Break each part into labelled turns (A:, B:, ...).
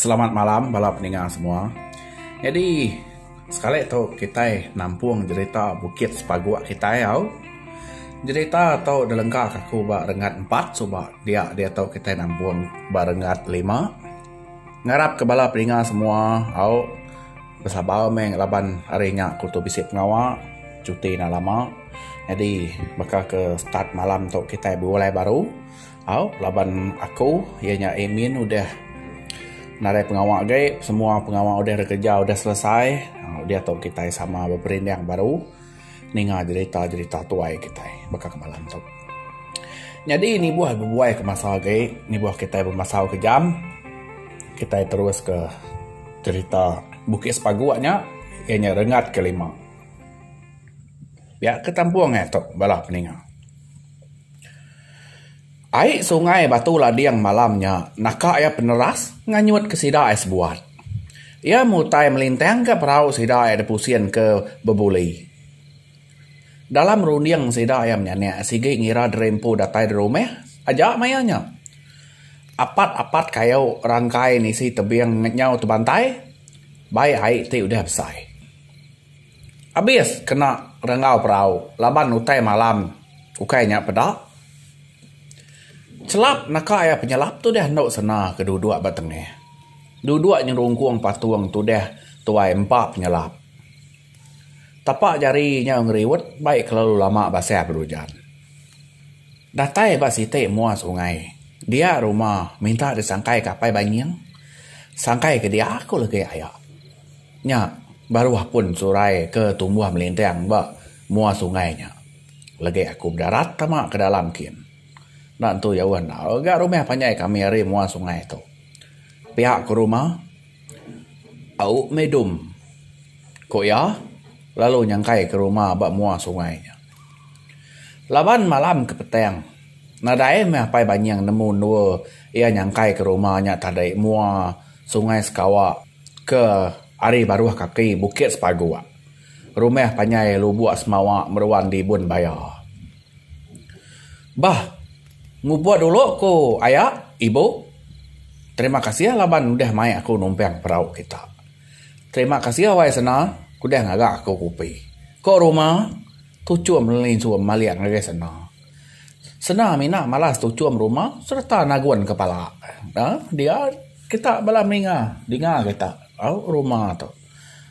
A: Selamat malam bala peninga semua. Nyadi sekali tu kitai nampung jerita Bukit Sepaguk kitai au. Jerita tu dilengkaka aku ba rengat empat suba dia diatu kitai nampung ba rengat lima. Ngarapka bala peninga semua au besabar meh laban hari nya aku tu bisi pengawa cuti enda lama. Nyadi baka ke start malam tu kitai bulai baru. Au laban aku iya nya admin udah narai pengawa agi semua pengawa udah ri kerja udah selesai udah tu kitai sama beperindang baru ninga jerita jerita tuai kitai baka kemalam tu. Nyadi nibuh bebuai ke masa agi nibuh kitai bemasau ke jam kitai terus ke jerita bukit sepagu nya iya nya rengat ke lima. Pia ke tampung aja tu bala peninga. Ai sungai Batu Lading malam nya naka iya peneras nganyut ke sida ai sebuat. Iya mutai melintang ka perau sida ai dipusin ke bebuli. Dalam runding sida iya menyanak sigi ngira diri empu datai di rumah aja maya nya. Apat-apat kayu rangkai nisi tebing nyau tebantai bai ai ti udah besai. Abis kena renggau perau laban utai malam ukai nya peda. Chelap naka iya penyelap tu deh endo sena ke duduk ba tengah. Duduk nyerungkung patung tu deh tuai empa penyelap. Tapa jari nya ngeriut bai kelalu lama basah belujan. Datai ba siti mua sungai dia rumah minta disangkai ka Apai Banying. Sangkai ke dia aku legi aya. Nya baru apun surai ke tumbuh melinting ba mua sungai nya. Legi aku bedarat tama ke dalam kin. Enda entu jauh enggau ga rumah panjai kami ari mua sungai tu. Pia ke rumah au meh dum, ku iya lalu nyangkai ke rumah ba mua sungai nya. Laban malam ke petang, nadai meh Apai Banying nemu endua iya nyangkai ke rumah nya tadi mua Sungai Sekawa. Ke ari baruh kaki bukit sepaguk. Rumah panjai lubuk semawa meruan dibun baya. Bah ngubur dulu ku aya ibu. Terima kasih laban udah mai aku numpang perau kita. Terima kasih awai sena udah ngaga aku kopi. Ko ruma tuchum linsu malik ngagai sena. Sena mina malas tuchum rumah sereta nagun kepala. Dia kita bala meringa dinga kita au rumah tu.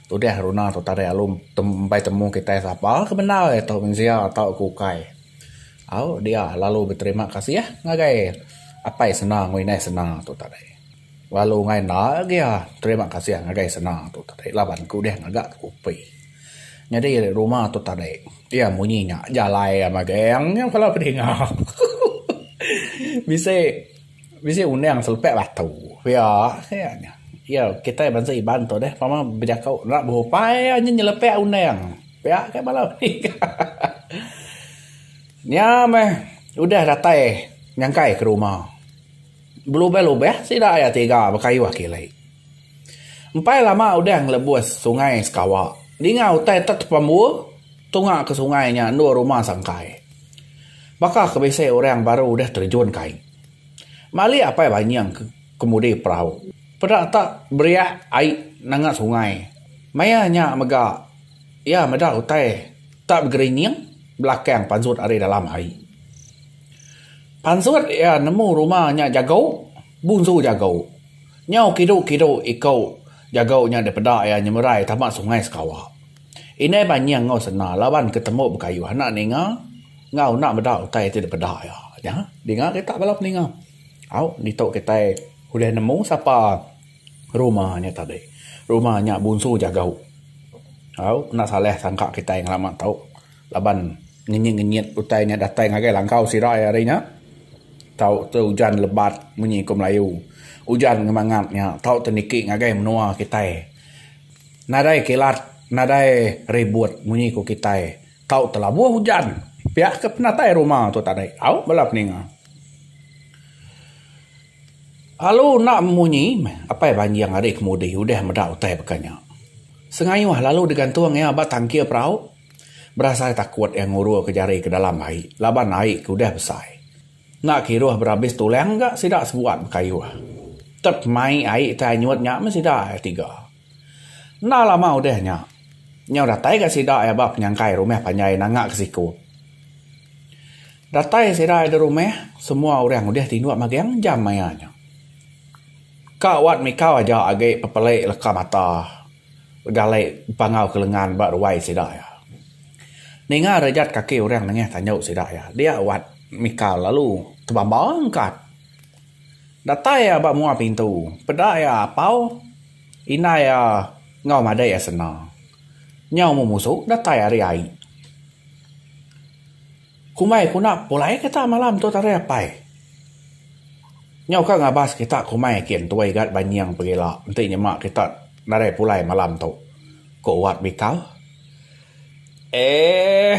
A: Tudih runa tu tadai alu empai temu kitai sapa ke bendar iya tu mensia tau ke ukai. Au dia lalu beterima kasih ngagai Apai Sena enggau Indai Sena tu tadai. Lalu enda agi iya terima kasih ngagai Sena tu tadai laban ke udih ngaga ke upi. Nyadi rumah tu tadi iya munyi nya jalai ama geng nya kepala bedinga bisi bisi undang selepek batu pia nya iya kitai bansa Iban tu deh pama bejako enda berupai iya nyin nyelepek undang pia ke bala bedinga nya meh udah datai nyangkai ke rumah. Belubeh-lubeh sida iya tiga bekayuh kili. Empai lama udah ngelebus sungai sekawa. Ninga utai tek pembu tunga ke sungai nya endur rumah sangkai. Baka ke bisi orang baru udah terjun ke ai. Malik Apai Banying ke kemudi perau. Peda tak beriak ai nanga sungai. Maya nya mega iya meda utai tak begerinying belakang panjut ari dalam ai. Pansut iya nemu ruma nya jago bunsu jago. Nyau kidu kidu iko jago nya dipeda iya nyemerai tama sungai sekawa. Indai banying enggau sena laban ke tembu bekayuh enda ninga enggau enda meda utai ti dipeda iya. Nya dinga kita bala peninga au ditu kitai ulih nemu sapa ruma nya tadi. Ruma nya bunsu jago. Au enda salah sangka kitai ngelama tu. Laban ngenyit-ngenyit utai nya datai ngagai langkau sirai hari nya, tau tu ujan lebat munyi ku Melayu. Ujan ngemangat nya tau tu niki ngagai menua kitai. Nadai kilat, nadai ribut munyi ku kitai. Tau tu labuh ujan. Pia ke penatai rumah tu tadi. Au bala peninga. Alu enda munyi meh apai banjing ari kemudi udah meda utai baka nya. Sengayuh lalu digantung iya ba tangkil perau. Berasai takut iya ngururka jari ke dalam ai laban ai ke udah besai. Enda kiruh berabis tulang ga sida sebuat bekayuh. Tet mai ai ti anyut nya meh sida iya tiga. Enda lama udah nya, nyau datai ga sida iya ba penyangkai rumah panjai nanga ke siku. Datai sida iya di rumah, semua orang udah tinduk magang jam maya nya. Ka wat mikau aja agi pepelei leka mata. Bejalai bepangau ke lengan ba ruai sida iya. Ninga rejat kaki orang nengah tanyu sida iya. Dia wat mika lalu tebamba angkat. Datai iya ba mua pintu. Peda iya apau indai iya enggau madai iya senda. Nyau memusu datai ari ai. Kumbai kuna pulai kita malam tu tari apai. Nyau ka ngabas kita kumai agi entui ga banying pegila enti nyema kita nadai pulai malam tu, ku Wat Bikal. Eeh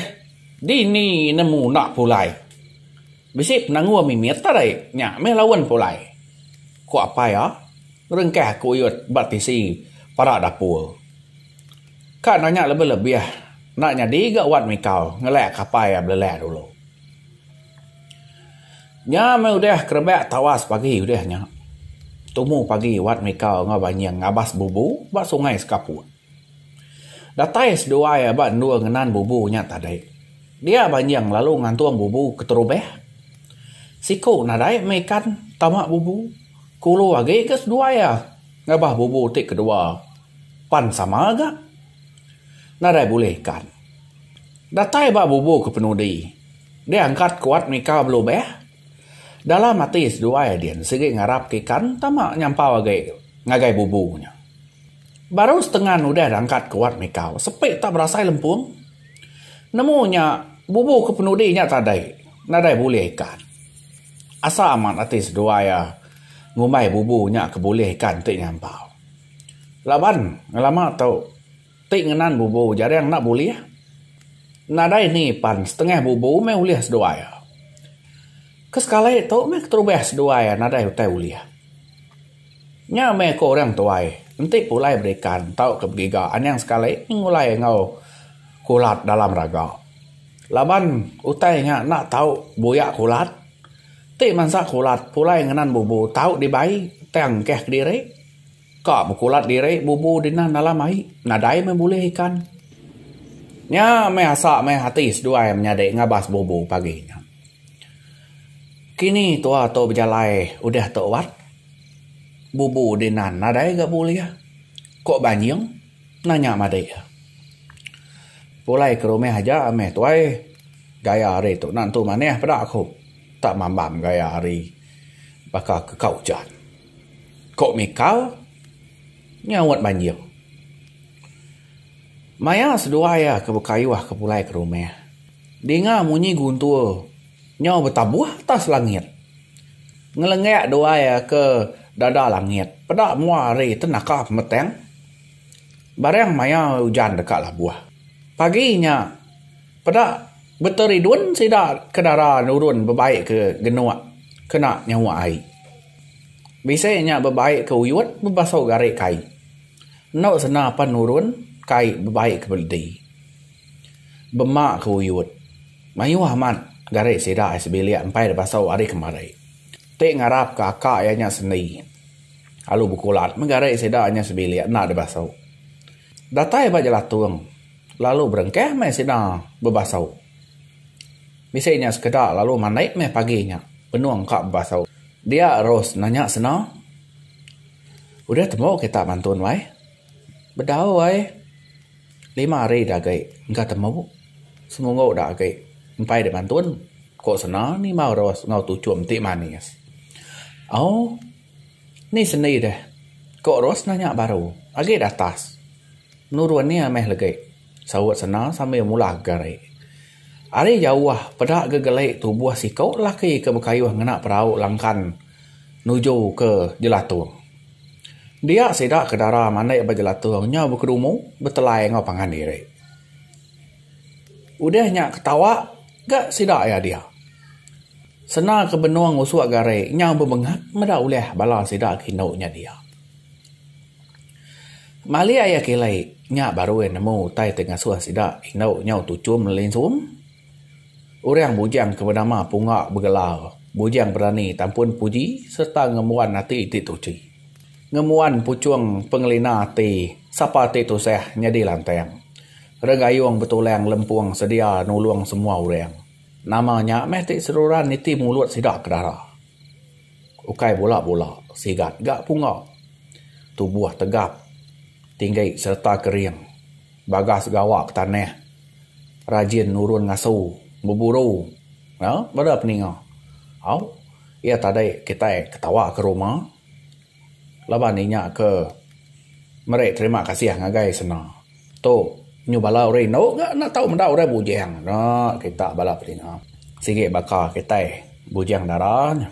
A: dini ne muna pulai. Bisi penanggul mimit tadi nya meh laun pulai, ku apai iya ngerengkah kuyut ba tisi parak dapur. Ka nanya lebih-lebih enda nyadi ga wan mikau ngelek kapai iya belelek dulu. Nya meh udah kerebak tawas pagi udah nya. Tumu pagi wan mikau enggau banying ngabas bubu ba sungai sekaput. Datai seduai iya ba endur ngenan bubu nya tadi. Dia banying lalu ngantung bubu keterubah. Siku nadai meh ikan tama bubu. Kulu agi ga seduai iya. Ngabah bubu ti kedua pan sama ga nadai bulih ikan. Datai ba bubu ke penudi diangkat kuat mika belubeh. Dalam ati seduai din sigi ngarapka ikan tama nyampau agi ngagai bubu nya. Baru setengan udah diangkat kuat mika sepi ta berasai lempung. Nemu nya bubu ke penudi nya tadi nadai bulih ikan. Asa amat ati seduai iya ngumbai bubu nya ke bulih ikan ti nyampau. Laban ngelama tu ti ngenan bubu jarang enda bulih. Nadai ni pan setengah bubu meh ulih seduai iya. Ke sekali tu meh keterubah seduai iya nadai utai ulih. Nya meh ku orang tuai enti pulai berikan tauka begiga anang sekali ngulai enggau kulat dalam raga. Laban utai nya enda tau buyak kulat, ti mansa kulat pulai ngenan bubu tau dibai tang engkah kediri. Ka bekulat diri bubu dinan alam ai, nadai meh bulih ikan. Nya meh asa meh ati seduai menyadi ngabas bubu pagi nya. Kini tua tu bejalai udah tu wat, bubu dinan nadai ga bulih, ko Banjing. Nanya madik. Pulai ke rumah aja meh tuai. Gaya hari tu enda entu manah peda aku. Tak mambang gaya hari baka ke ka ujan. Ko Mika nyaut banjir. Maya seduai iya ke bekayuh ke pulai ke rumah. Dinga munyi guntur. Nyau betabuh atas langit. Ngelengak duai ke dada langit. Peda mua hari ti naka pemetang. Barang maya ujan deka labuh. Pagi nya peda beteridun sida ke dara nurun bebai ke genuk kena nyawa ai. Bisi nya bebai ke uyut bebasau gari kai. Enu sena pan nurun kai bebai ke beledi. Bema ke uyut. Mayuh amat gari sida ai sebilik empai dipasau ari kemari. Ti ngarap ke aka iya nya sendi alu bekulat meh gari sida nya sebilik enda dipasau. Datai ba jelatung lalu berengkah meh sida bepasau. Bisi nya sekeda lalu manik meh pagi nya benung ka bepasau. Dia Ros nanya seno. Udah tembu kita bantu nuai. Bedau ai. Lima hari da agi engka temu seminggu da agi empai da bantun ku sanda nimau ros enggau tuchum ti manis. Au ni sendi deh ku ros nanya baru agi da atas nurun nya meh legi saut sanda sambil mulah gari. Ari jauh peda gegeli tubuh siku lelaki ke bekayuh ngena perau langkan nuju ke jelatung. Dia sida ke dara manik ba jelatung nya bekedumu betelai enggau pangan diri. Udah nya ketawa ga sida iya dia. Sena ke benung usok gari nya bebengap meda ulih bala sida ke indu nya dia. Malik iya kili nya baru iya nemu utai ti ngasuh sida indu nya tuchum lelinsum. Orang bujang ke benama Punga begelar Bujang Berani Tampun Puji sereta ngembuan ati ti tuchi. Ngembuan puchung pengelina ati sapa ti tusah nyadi lantang. Regayung betulang lempung sedia nulung semua orang. Nama nya meh ti seruran niti mulut sida ke dara. ukai bula-bula sigat ga punga tubuh tegap tinggi sereta kering bagas gawa ke tanah rajin nurun ngasu beburu aaa bala nya au iya tadi kitai ketawa ke rumah. laban inya ke meri terima kasih ngagai sena. Tu nyu bala urang indu ga enda tau meda urang bujang nya kita bala bedinga. Sigi baka kitai bujang dara nya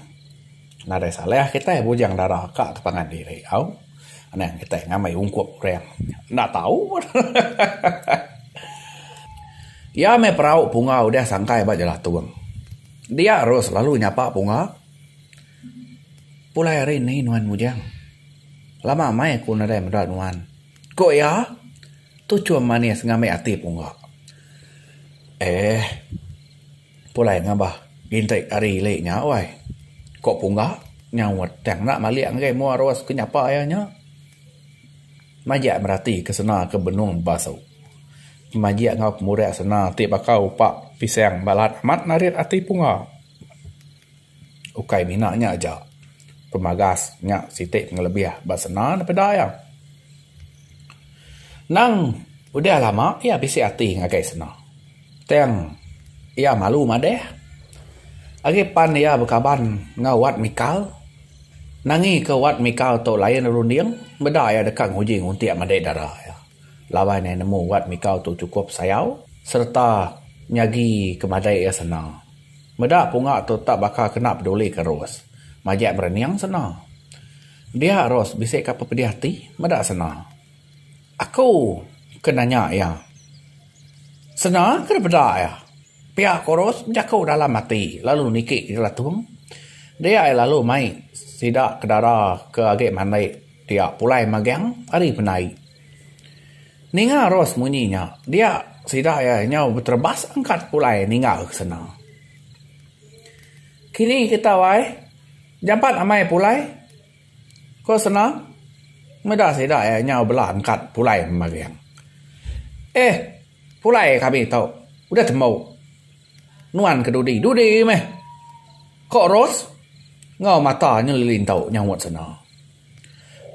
A: nadai salah kitai bujang dara ka ke pangan diri au anang kitai ngambi ungkup urang enda tau pun hahaha. Iya meh perau punga udah sangkai ba Jelatong. Dia ru selalu nyapa punga. Pulai ari ni nuan mujang. Lama meh aku nadai meda nuan. Ku iya, tu chum manis ngambi ati pungga. Eeh. Pulai ngambah inti ari ili nya uai. Ku pungga nyaut tang enda malik ngagai mua Ros ke nyapa iya nya. Majak merati ke sena ke benung bebasu. Pemaji enggau pemurih sena ti baka upa pisang balat amat narit ati pungga. Ukai mina nya aja, pemagas nya siti pengelebih ba senda ne peda iya. Nang udah lama iya bisi ati ngagai senda tang iya malu madeh agi pan iya bekaban enggau Wat Mikal nangi ke Wat Mikal tu lain runding meda iya deka nguji nguntik madei dara iya laban iya nemu Wat Mikal tu chukup sayau sereta nyagi ke madei iya senda. Meda punga tu tetap baka kena peduli ke Rose. Majak berening sena. Dia Rose bisi ka pe pedih ati meda sena. Aku ke nanya iya. Sena ke dipeda iya. Pia ko Rose bejaku dalam ati lalu niki ke jelatung. Dia iya lalu mai sida ke dara ke agi mandi dia pulai magang ari penai. Ninga Ros munyi nya, dia sida iya nyau beterebas angkat pulai ninggal ke sena. Kini kitai ai jampat amai pulai ke sena meda sida iya nyau bela angkat pulai membaring. Eh pulai kami tu udah tembu nuan ke dudi dudi meh, ko Ros enggau mata nyeliling tu nyahut sena.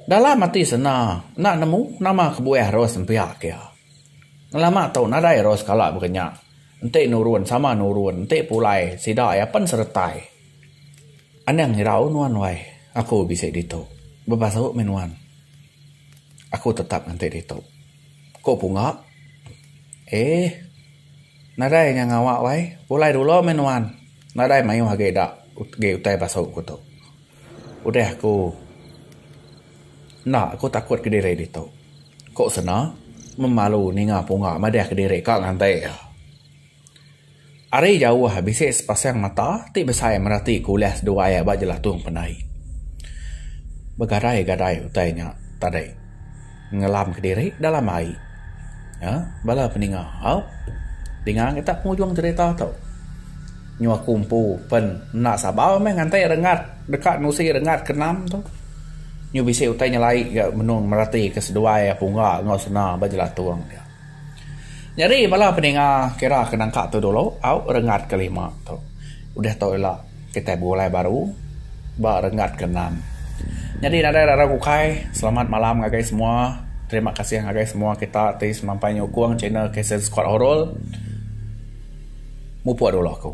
A: Dalam ati sena enda nemu nama kebuah Ros nempiak iya. Ngelama tu nadai Ros kala baka nya. Enti nurun sama nurun, enti pulai sida iya pen seretai. Anang irau nuan wai, aku bisi ditu. Bebasu mih nuan. Aku tetap nganti ditu, ku Punga. Eeh. Nadai nya ngawa wai. Pulai dulu mih nuan. Nadai mayuh agi dak agi utai basu ku tu. Udah aku enda aku takut ke diri ditu. Ko sena memalu ninga punga madah ke diri ka nganti iya. Ari jauh bisi sepasang mata ti besai merati ke ulah seduai iya ba jelatung pandai. Begadai-gadai utai nya tadi. Ngelam kediri dalam ai. Nya bala peninga haup dinga ngitak pengujung cerita tu. Nyu aku empu pen enda sabar meh nganti rengat deka nusi rengat ke enam tu. Nyu bisi utai nyelai ga menung meratika seduai pungga enggau sena ba jelatung dia. Nyadi bala peninga kira ke nangka tu dulu au rengat ke lima tu udah tu ila kitai begulai baru ba renggat ke enam nyadi nadai ira raun ukai selamat malam ngagai semua terima kasih ngagai semua kita ti semampai nyukung channel kasen squad horror mupok dulu aku.